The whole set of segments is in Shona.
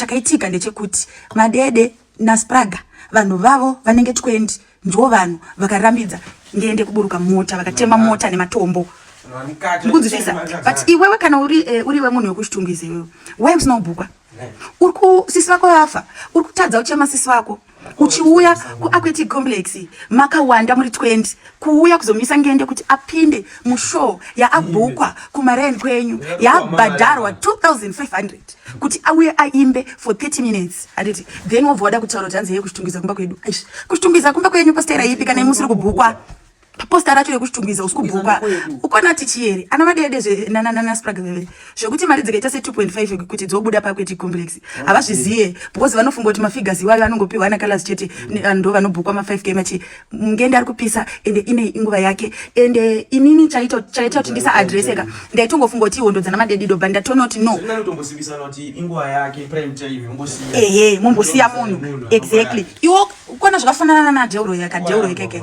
chakaitika ndechekuti madede naspraga vanhu vavo vanenge 20 ndivo vanhu vakarambidza ndiende kuburuka mota vakatema mota nematombo ndikunzwisisa but iwewe kana uri eh, uriwe munhu wekushitungwiza iwewe why usina kubhukwa uri kusisi vako vafa uri kutadza uchema sisi vako uchiuya kuaquetic complex makawanda muri 20 kuuya kuzomisa ngende kuti apinde mushow yaabhukwa kumarain kwenyu yaabhadharwa 2500 kuti auye aimbe for 30 minutes handiti then wobva wada kutaura kuti hanzi yeye kuchitungwiza kumba kwedu kuchitungwiza kumba kwenyu pastaira ipi kana imusiri kubhukwa posta racho rekuchitumbiza usiku bhuka ukona tichiyeri ana madede zvenanananasprag veve zvekuti mari dzikaita se 2.5 kuti dzobuda pakweti complex havazvizive because vanofunga kuti mafigures iwayo anongopiwa ana kalas chete ah, ndo vanobhukwa ma 5 k machi mungende ari kupisa ende ine inguva yake ende inini chaita kuti ndisa adresseka ndaitongofunga kuti ihondo dzana madede doba ndatonoti no ehe mombosiya munhu exactly iwo ukona zvakafanana nadeuro yaka deuro ikeke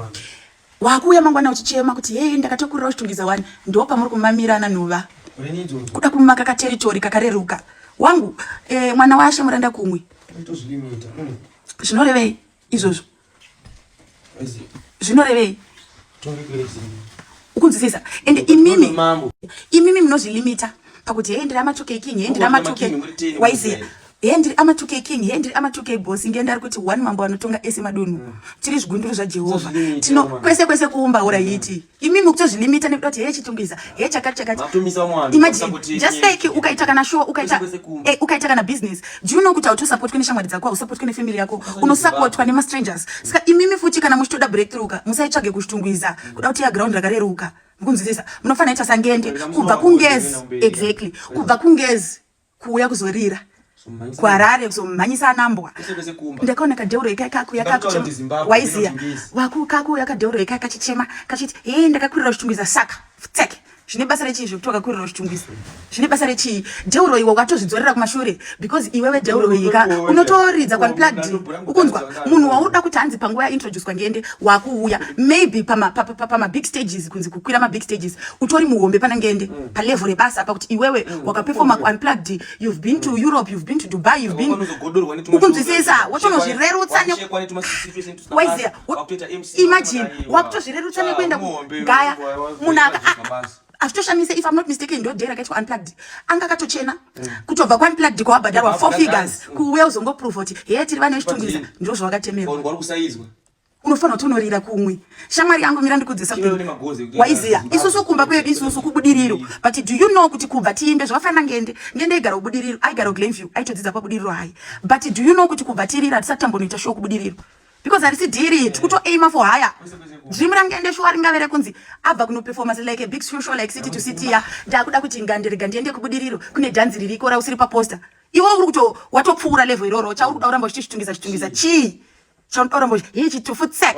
wakuuya mangwana uchichema kuti hei ndakatokurira uchitungidza wani ndo pamuri kumamirana nhuva kuda kumaka kateritori kakareruka wangu eh, mwana washe muranda kumwe mm. zvinorevei izvozvo zvinorevei ukunzwisisa ende imimi imimi munozvilimita pakuti hei ndira matoke ikinhi hei ndira matoke waiziya hee ndiri ama 2k king hee ndiri ama 2k bosi ndiye ndari kuti one mambo anotonga ese madunhu mm. tiri zvigunduru zvajehovha tino kwese kwese kuumba ura mm. yiti imi mukutozvilimita nekuda kuti hee chitungwiza hee chakati chakati imagine just like ukaita kana show ukaita eh, ukaita kana business do you know kuti hautosapotwe neshamwari dzako hausapotwe nefamily yako unosapotwa nemastrangers mm. saka imimi futi kana muchitoda breakthrough ka musaitsvage kushitungwiza kuda kuti ya ground rakareruka mukunzwisisa munofanira ita sangende kubva kungezi exactly kubva kungezi kuuya kuzorira kuharare kuzomhanyisa anambwa ndakaona kadeuro eka kakuya kakuwaiziya waku kakuya kadeuro eka kachichema kachiti hee ndakakurira uchitungwiza saka tseke zvine basa rechii zvekuti wakakurira uchitungwiza zvine basa rechii deuro iwe wakatozvidzorera kumashure because iwewe deuro ika unotoridza kwanplad ukunzwa munhu wauda kuti hanzi panguva yaintroducwa ngende wakuuya maybe pamabig stages kunzi kukwira mabig stages utori muhombe pana ngende mm. palevel rebasa apa kuti iwewe mm. wakaperforma kuunplugged you've been to mm. europe you've been to dubai you've been ukunzwisisa wotozvirerutsa imagine wakutozvirerutsa nekuenda kugaya munhu azvitoshamisa if im not mistaken ndodhera akaitwa unplugged anga akatochena mm. kutobva kuunplugged kwawabhadharwa four figures kuuya uzongoprova kuti heye tiri vana vechitungwiza ndozvawakatemerwa unofanira kutonorira kumwe shamwari yangu mira ndikudze something waiziya isusu kumba kwedu isusu kubudiriro but do you know kuti kubva tiimbe zvakafanira ngende ngende aigara kubudiriro aigara kuglenview aitodzidza pabudiriro hayi but do you know kuti kubva tirira hatisati tambonoita shuwa kubudiriro because harisi dhiri tikutoaima for higher dream rangende shuwa ringave rekunzi abva kunoperformance like a big social like city to city ya ndakuda kuti ngandirega ndiende kubudiriro kune dhanzi ririko rausiri paposter iwe uri kuto watopfuura level iroro chauri kuda kuramba uchitishitungisa chitungisa chii chaunorombo hii chitufu tsak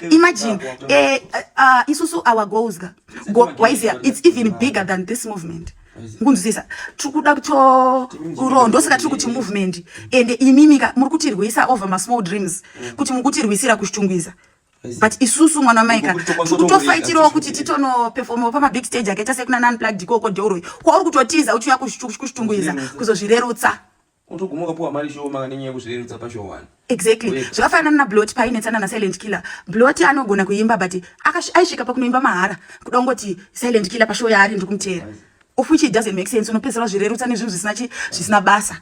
imagine eh, uh, uh, isusu our goals ga go, waizia it's even bigger than this movement ngunzwisisa tiri kuda kutouro ndosaka tiri kuti movement ende imimika muri kutirwisa over masmall dreams mm. kuti muri kutirwisira kushitungwiza but isusu mwana wamaika kutofaitirawo kuti titonoperfomawo pamabig stage akaita sekuna nanplug dikoko deuroi kwauri kutotiza uchiuya kushitungwiza kuzozvirerutsa Unotoguma ukapuwa mari shoma nenyaya yekuzvirerutsa pashow one. Exactly. Zvakafanana naBlot painetsana naSilent Killer. Blot anogona kuimba but aisvika pakunoimba mahara. Kuda kungoti Silent Killer pashow yaari ndiri kumuteera. Of which it doesn't make sense. Unopedzera wazvirerutsa nezvinhu zvisina chi zvisina basa.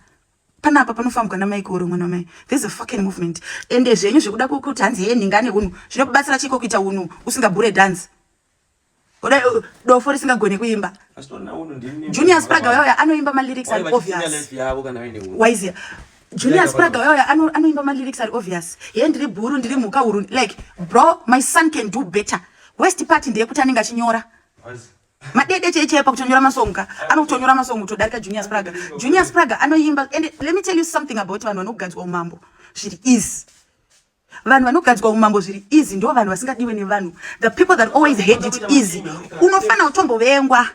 Panapa panofambwa namai koro mwana mai. This is a fucking movement. Ende zvenyu zvekuda kuti hanzi yeye ningane hunhu. Zvinokubatsira chiko kuita hunhu usingabure dance. Kudai uh, dofo risingagone kuimba. Junior Spraga waya anoimba ma lyrics ari obvious. Waiziya. Junior Spraga waya anoimba ma lyrics ari obvious. Ye ndiri bhuru ndiri mhuka huru like bro my son can do better. West part ndiye kuti anenge achinyora. Madede cheche apa kutonyora masong ka. Anotonyora masong kutodarika Junior Spraga. Junior Spraga anoimba and let me tell you something about vanhu vanoganzwa umambo. Zviri easy. vanhu vanogadzwa umambo zviri easy ndo vanhu vasingadiwe nevanhu the people that always hate it easy unofanira kutombovengwa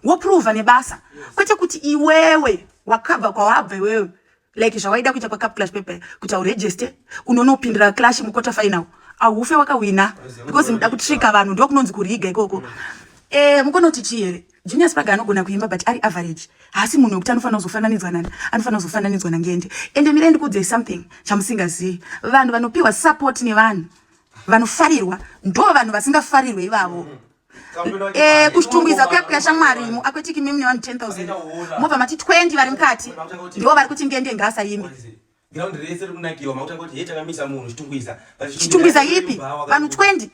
woprova nebasa kwete kuti iwewe wakabva kwawabva iwewe like zvawaida kuita pacap clash pepe kuti auregiste unonopindira clash mukota final aufe wakawina because muda kutrika vanhu ndokunonzi kuriga ikoko e, eh, mukonoti chii here Genius Paga anogona kuimba but ari average. Haasi munhu wekuti anofanira kuzofananidzwa nani, anofanira kuzofananidzwa naNgende. Ende mirai ndikuudzei something chamusingazivi. Vanhu vanopiwa support nevanhu vanofarirwa ndo vanhu vasingafarirwe ivavo. Eh, kushitungwiza kuya kuya shamwari mu akwetiki mimi nevanhu 10000 mobva mati 20 vari mukati ndo vari kuti ngende ngaasa yimbi Ground rese rikunakirwa makuta kuti heta kamisa munhu chitungwiza. Chitungwiza yipi? Vanhu 20.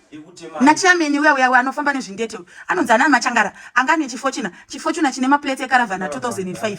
Nachiyameni uya uya anofamba nezvindete. Anonzi ana machangara anga ane chifochina. Chifochina chine maplate ekaravana 2005.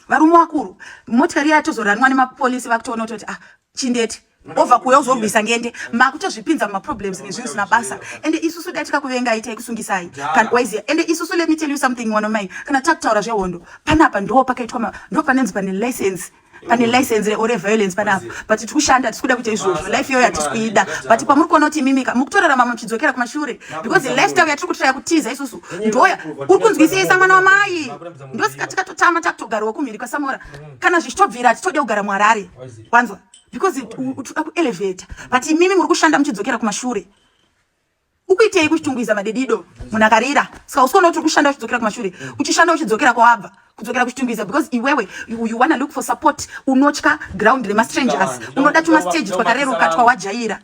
Varume wakuru. Motikari yatozoranwa nemapolisi vakutoona kuti ah chindete. Ova kuya uzorwisa ngende makutozvipinza mumaproblems nezvinhu zvisina basa ende isusu dai tikakuvengai taikusungisai kanwise ende isusu let me tell you something wanomai kana takutaura zvehondo panapa ndo pakaitwa ndo panenzi pane license pane license re ore violence panapa but tiri kushanda tisi kuda kuita izvozvo life iyoyo hatisi kuida but pamuri kuona kuti imimika mukutorarama muchidzokera kumashure because lifestyle yatiri kutiraya kutiza isusu ndoya uri kunzwisisa mwana wamai ndosika tikatotama takutogarawo kumhiri kwasamora kana zvichitobvira hatitode kugara muharare wanzwa because tikuda kuelevheta but imimi muri kushanda muchidzokera kumashure Ukuitei kuchitungwiza madedido munhu akarira ska usiona kuti ukushanda uchidzokera kumashure uchishanda uchidzokera kwawabva kudzokera kuchitungwiza because iwewe you, you wanna look for support unotya ground remastrangers unoda tumastage twakareruka twawajaira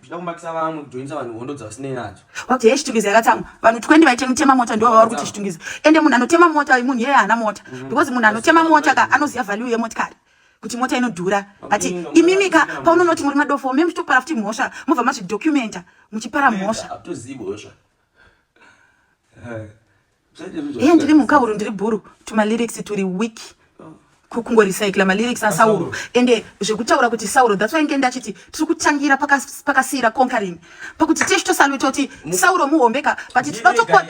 wati he chitungwiza yakatsamwa vanhu 20 vaite mutema mota ndivo vavari kuti chitungwiza ende munhu anotema mota munhu yeye haana mota mm-hmm. because munhu anotema mota ka anoziva value yemotikari kuti mota inodhura but imimika paunonoti muri madofo me muchitopara futi mhosva mobva mazvidocumenta muchipara mhosva iye ndiri mhukahuru ndiri bhuru tumalyrics turi weak kungorecycla malyrics asauro ende zvekutaura kuti sauro that's why nge ndachiti tiri kutangira pakasiira conquering pakuti tisu tosalwe toti sauro muhombeka but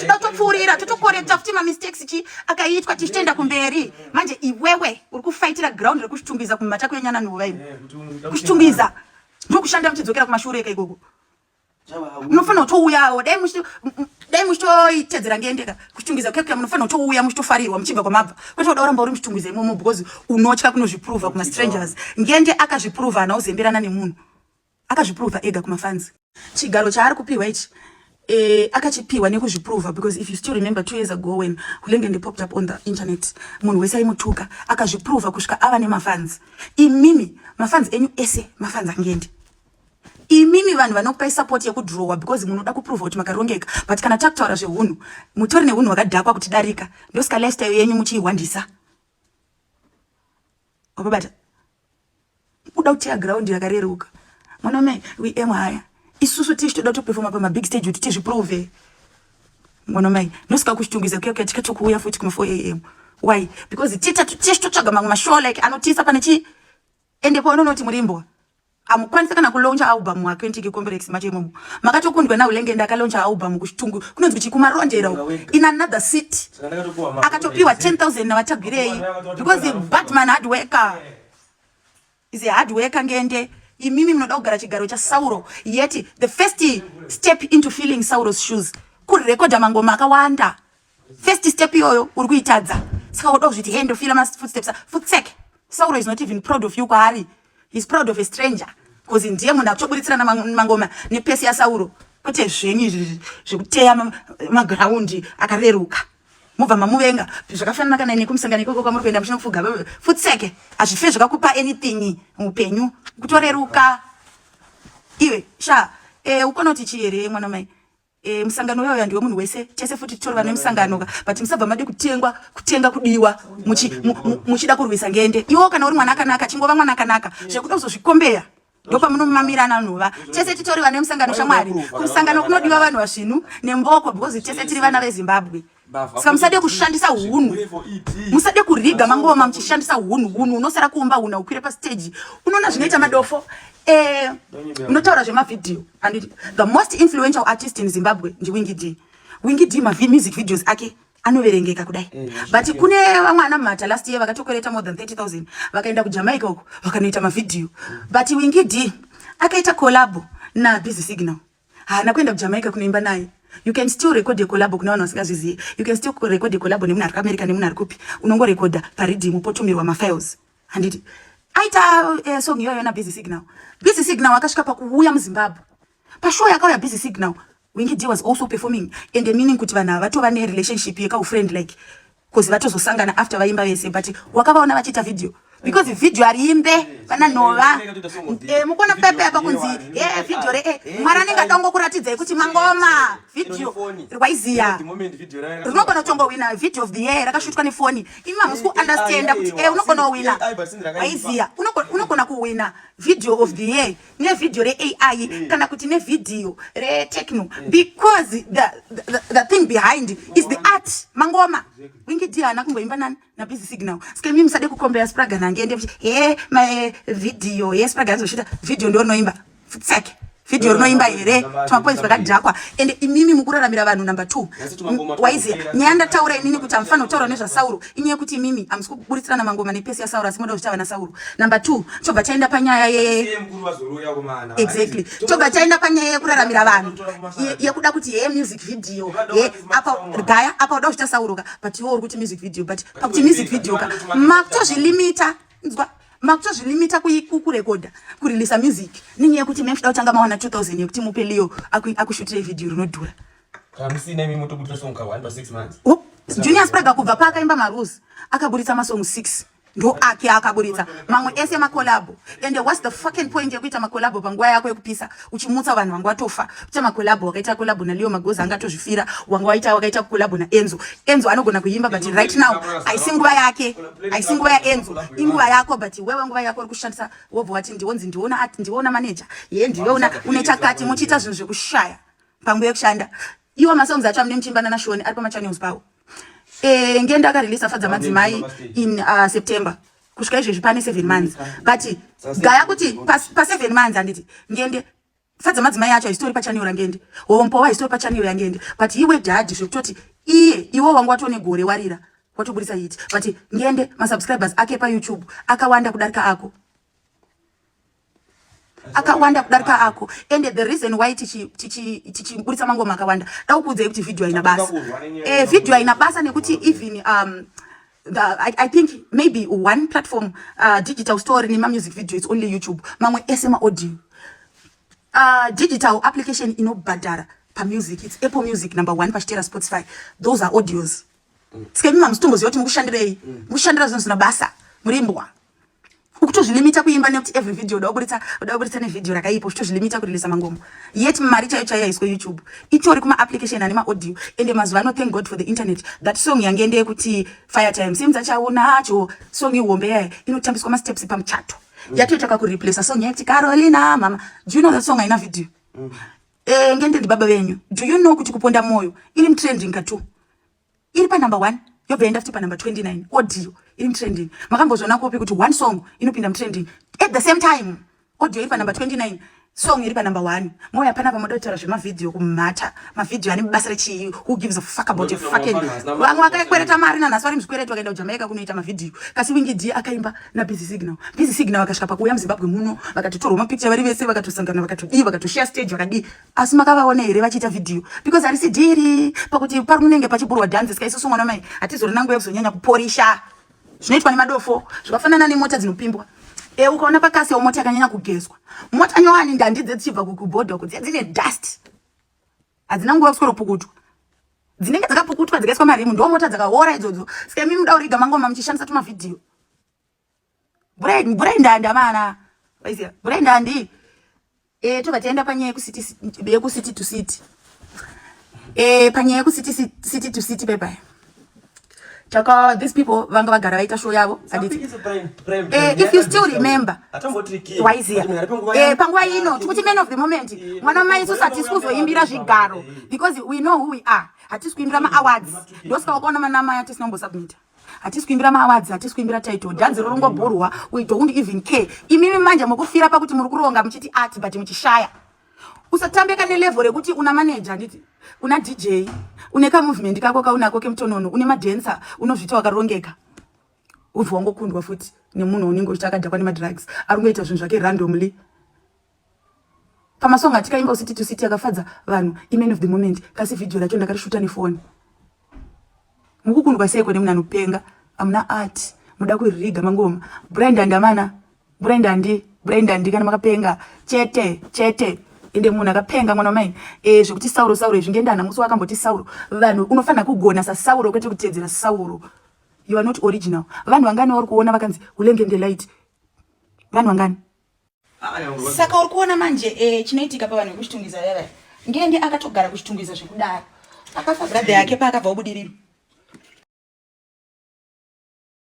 totopfuurira totokorekta futi mamistakes chi akaitwa tisu toenda kumberi manje iwewe uri kufaitira ground rekushitungwiza kumatako yenyana nuva ino eh, kushitungwiza ndokushanda muchidzokera kumashure eka ikoko munofanira kutouyawo dai dai muchitoitedzera ngendeka kuchitungwiza kekuya munofanira kutouya muchitofarirwa muchibva kwamabva kwete kuda uramba uri muchitungwiza imomo because unotya kunozviprova kumastrangers ngende akazviprova hana uzemberana nemunhu Akazviprova ega kuma fans. Chigaro chaari kupihwa ichi eh, akachipihwa nekuzviprova because if you still remember two years ago when Hulengende popped up on the internet munhu wese aimutuka akazviprova kusvika ava nemafans imimi mafans enyu ese mafans angendi imimi vanhu vanokupai support yekudrowa because munoda kuprova kuti makarongeka but kana takutaura zvehunhu mutori nehunhu hwakadhakwa kuti darika ndosika lifestyle yenyu muchiihwandisa wapabata kuda kuteya ground yakareruka munome we aim haya isusu tishi toda kutoperforma pamabig stage kuti tizviprove munomai nosika kuchitungwiza kuya kuya tikato kuuya futi kuma 4 am why because tita tishi totsvaga mamwe mashow like anotisa pane chi ende paunonoti murimbwa amukwanisa kana kulauncha album wa 20 complex macho imomo makatokundwa naulenge ndakalauncha album kuchitungu kunonzi kuti kumarondero in another city akatopiwa 10000 navatagwirei because batman hard worker is a hard worker ngende imimi munoda kugara chigaro chasauro yet the first step into feeling sauros shoes kurekodha mangoma akawanda First step iyoyo uri kuitadza. Saka woda kuzviti hey ndofila ma footsteps. Futsek. Sauro is not even proud of you kwaari. He's proud of a stranger. Cause ndiye munhu akutoburitsira na mangoma ne pesi ya Sauro. Kwete zvenyu zvekuteya ma ground akareruka. Mubva mamuvenga. Zvakafanana kana ine kumusangano ikoko kwamuri kuenda muchino kufuga. Futsek. Azvife zvakakupa anything mupenyu. Kutoreruka. Iwe sha eh ukonoti chii here mwana mai. E, musangano uya uya ndiwe munhu wese tese futi titorova nemusangano ka but musabva made kutengwa kutenga kudiwa muchida kurwisa ngende iwo kana uri mwana akanaka chingova mwana akanaka zvekuda kuzozvikombeya ndopamunomamira nanhuva tese titori vane musangano shamwari kumusangano kunodiwa vanhu vazvinu nemboko because tese tiri vana vezimbabwe ska musade kushandisa hunhu musade kuriga mangoma muchishandisa hunhu hunhu unosara kuumba hunhu aukwire pasteji unoona zvinoita madofo eh, unotaura zvemavhidhiyo and the most influential artist in zimbabwe ndiwingi d wingi d mamusic videos ake anoverengeka kudai eh, but kune vamwe ana mhata last year vakatokwereta more than 30 000 vakaenda kujamaica uko vakanoita mavhidhiyo but wingi d akaita collabo nabusy signal haana kuenda kujamaica kunoimba naye you can still record yecolabo kune vanhu vasingazvizive you can still record yecolabo nemunhu ari kuamerica nemunhu ari kupi unongorekodha paridhimu potumirwa mafiles handiti aita eh, song iyoyo nabusy signal busy signal akasvika pakuuya muzimbabwe pashow yakauya busy signal wingi d was also performing and meaning kuti vanhu ava vatova nerelationship yekaufriend like Cause vatozosangana after vaimba vese but wakavaona vachiita video because video ariimbe pana nhova eh, mukuona pepe apa kunzi e video re e mwari anenge atongo kuratidzai kuti mangoma video rwaiziya rinogona kutongowina video of the year rakashutwa nefoni imi mamusi kuunderstanda kuti e unogona kuwina waiziya unogona kuwina video of the year nevhidhiyo reai mm. kana kuti nevhidhiyo retechno mm. because the, the, the, the thing behind is the art mangoma wingidi haana kumboimba nani nabusy signal ska imi musade kukombera spraga nange ende he mavhidhiyo he spraga anzosvita vhidhiyo ndoonoimba futsake vhidhiyo rinoimba here tumapoinzi vakadhakwa ende imimi mukuraramira vanhu number two waiziya nyaya ndataura inini kuti hamufani kutaura nezvasauro inyaya yekuti imimi hamusi kuburitsirana mangoma nepesi yasauro asi moda kuchava nasauro number two chobva chaenda panyaya yeexactly chobva chaenda panyaya yekuraramira vanhu yekuda kuti heye music video e apa gaya apa uda kuchita sauro ka but iwo uri kuti music video but pakuti music video ka makutozvilimita nzwa makutozvilimita kurekodha kureleasa music nenyaya yekuti mekuda kutanga mawana 2000 yekuti mupe leo akushutire video rinodhura Hamusina imi motobudisa song ka 1 pa 6 months. Oh, Junior Spragga kubva paakaimba Marules akaburitsa masong 6 ndo ake akaburitsa mamwe ese makolabo ende whats the fucking point yekuita makolabo panguva yako yekupisa uchimutsa vanhu vanga watofa kuita makolabo wakaita kolabo naleo magoza anga atozvifira wanga waita wakaita kolabo naenzo enzo anogona kuimba but right now aisi nguva yake aisi nguva yaenzo inguva yako but wewe nguva yako uri kushandisa wobva wati ndionzi ndiona ndiona manager ye ndiona une chakati muchiita zvinhu zvekushaya panguva yekushanda iwo masongs acho amune muchimba nana shoni ari pamachannels pawo eh, ngenda akareleasa fadza madzimai in uh, september kusvika izvezvi pane seven months but gaya kuti paseven months handiti ngende fadza madzimai acho haisitori pachannel rangende hompowa haisitori pachannel yangende but iwe dhadhi zvekutoti iye iwe wanga watone gore warira watoburitsa yiti but ngende masubscribers ake payoutube akawanda kudarika ako akawanda kudarika ako and the reason why tichiburitsa mangoma akawanda daukuudzai kuti video haina basa eh, video haina basa nekuti even um, The, I, I think maybe one platform uh, digital story nema music video it's only youtube mamwe ese maaudio uh, digital application inobhadhara pamusic it's apple music number one pachitera spotify those are audios mm. sikenyuma musitomboziva kuti mukushandirei mm. mukushandira zvinhu zvina basa murimbwa ukutozvilimita kuimba nekuti every video uda kuburitsa uda kuburitsa nevideo rakaipa uchitozvilimita kurilisa mangoma yet mari chaiyo chaiyo yaiswa youtube itori kuma application ane maaudio ende mazuva ano thank god for the internet that song yange ende yekuti fire time seems achaunacho song ihombe yaye inotambiswa masteps pamuchato mm. yatoitaka kureplace song yaiti carolina mama do you know that song haina video mm. eh, ngende ndibaba venyu do you know kuti kuponda moyo iri mtrending katu iri panumber one yobva yaenda futi panumber 29 audio iri mutrending makambozviona kopi kuti one song inopinda mutrending at the same time audio iri panumber 29 song iri panumber one moya pana pamoda kutaura zvemavhidhiyo kumhata mavhidhiyo ane basa rechii who gives a fuck about a fucking vamwe vakakwereta mari nanhasi vari muzvikwereti vakaenda kujamaica kunoita mavhidhiyo kasi wingidi akaimba nabusy signal busy signal vakasvika pakuuya muzimbabwe muno vakatotorwa mapicture vari vese vakatosangana vakatodii vakatoshare stage vakadii asi makavaona here vachiita vhidhiyo because harisi dhiri pakuti parinenge pachiburwa dhanzi ska isusu mwana mai hatizorina nguva yekuzonyanya kuporisha zvinoitwa nemadofo zvakafanana nemota dzinopimbwa e ukaona pakasi yo mota yakanyanya kugezwa mota nyowani ndandi dzechibva kukubhodhoko dziya dzine dust hadzina nguva yekuswero pukutwa dzinenge dzakapukutwa dzikaiswa marimu ndo mota dzakaora idzodzo ska imimi muda uriga mangoma muchishandisa tumavhidhiyo Brain, brain dandi amana. Waiziya, brain dandi. Eh, toba tienda panyaya yekusiti yekusiti to city. Eh, panyaya yekusiti city to city bye bye. Chaka, these people vanga vagara vaita show yavo handiti eh, if you still remember waiziya eh, panguva ino tikuti man of the moment mwana mai isusu hatisi kuzoimbira zvigaro because we know who we are hatisi kuimbira maawards ndosika wakaona manamai atisinombosabumitter hatisi kuimbira maawadzi hatisi kuimbira title dhanzi rorongobhurwa we don't even care imimi manje mukufira pakuti muri kuronga muchiti art but muchishaya usatambeka nelevel rekuti una manager nditi una dj une kamovement kako kaunako kemutonono une madancer unozvita wakarongeka ubva wangokundwa futi nemunhu unenge uchita akadhakwa nemadrugs ari kungoita zvinhu zvake randomly pamasong atikaimba usiti to city akafadza vanhu iman of the moment kasi vhidhiyo racho ndakarishuta nefoni mukukundwa seiko nemunhu anopenga amuna art muda kuririga mangoma brand andamana brand andi brand andi kana makapenga chete chete ende munhu akapenga mwana wamai e, zvekuti sauro sauro izvi ngendana musi wakamboti sauro vanhu unofanira kugona sasauro kwete kutedzera sauro you are not original vanhu vangani vari kuona vakanzi ulenge ndelight vanhu vangani saka uri kuona manje eh, chinoitika pavanhu vekuchitungiza vevaya ngende akatogara kuchitungiza zvekudaro akafa bradhe yake paakabva ubudiriro